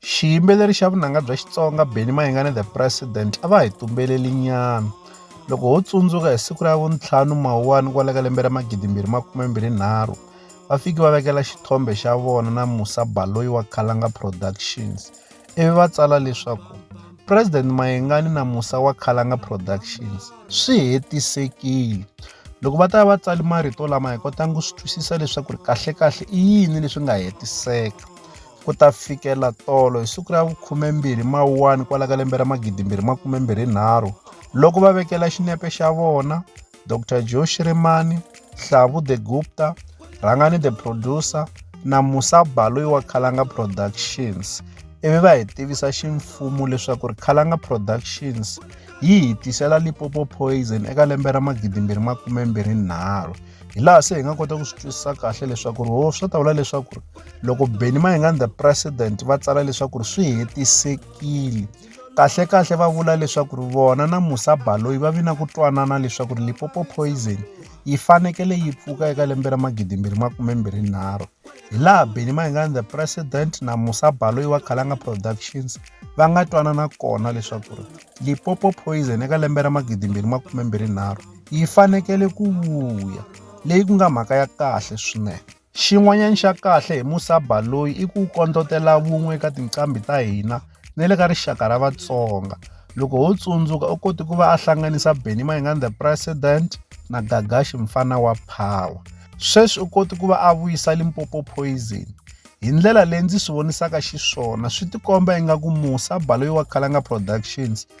Xiyimbeleri xa vunanga bya Xitsonga Benny Mayengani The President a va hi tumbeleli nyana loko ho tsundzuka hi siku ra vuntlhanu mawuwani kwala ka lembe ra magidi mbirhi makume mbirhi nharhu va fiki va vekela xithombe xa vona na Musa Baloyi wa Khalanga Productions ivi va tsala leswaku President Mayengani na Musa wa Khalanga Productions swi hetisekile loko va ta va tsali marito lama hi kotanga ku swi twisisa leswaku ri kahlekahle i yini leswi nga hetiseka ku ta fikela tolo hi siku ra vu-12 Mawuwani kwala ka lembe ra 2023 loko va vekela xinepe xa vona Dr Joe Shirimani, Hlavu the Gupta, Rhangani the Producer na Musa Baloyi wa Khalanga Productions ivi va hi tivisa ximfumo leswaku ri Khalanga Productions yi hi tisela Limpopo Poison eka lembe ra 2023. hi laha se hi nga kota ku swi twisisa kahle leswaku ri ho swi ta vula leswaku ri loko benny mayingani the president va tsala leswaku ri swi hetisekile kahle kahle va vula leswaku ri vona na musa baloyi va vi na ku twanana leswaku ri lipopo poison yi fanekele yi pfuka eka lembe ra magidimbirhi makumembirhinharhu hi laha benny mayingani the president na musa baloyi wa khalanga productions va nga twanana kona leswaku ri lipopo poison eka lembe ra magidimbirhi makumembirhinharhu yi fanekele ku vuya leyi ku nga mhaka ya kahle swinene xin'wanyana xa kahle hi musaba loyi i ku kondlotela vun'we eka tinqambi ta hina na le ka rixaka ra vatsonga loko ho tsundzuka u koti ku va a hlanganisa benny mayingani the president na gagashi mfana wa power sweswi u koti ku va a vuyisa limpopo poison hi ndlela leyi ndzi swi vonisaka xiswona swi tikomba ingaku musa baloyi wa khalanga productions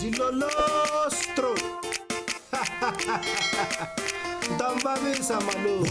Jilolostro. Ndambabisa malume.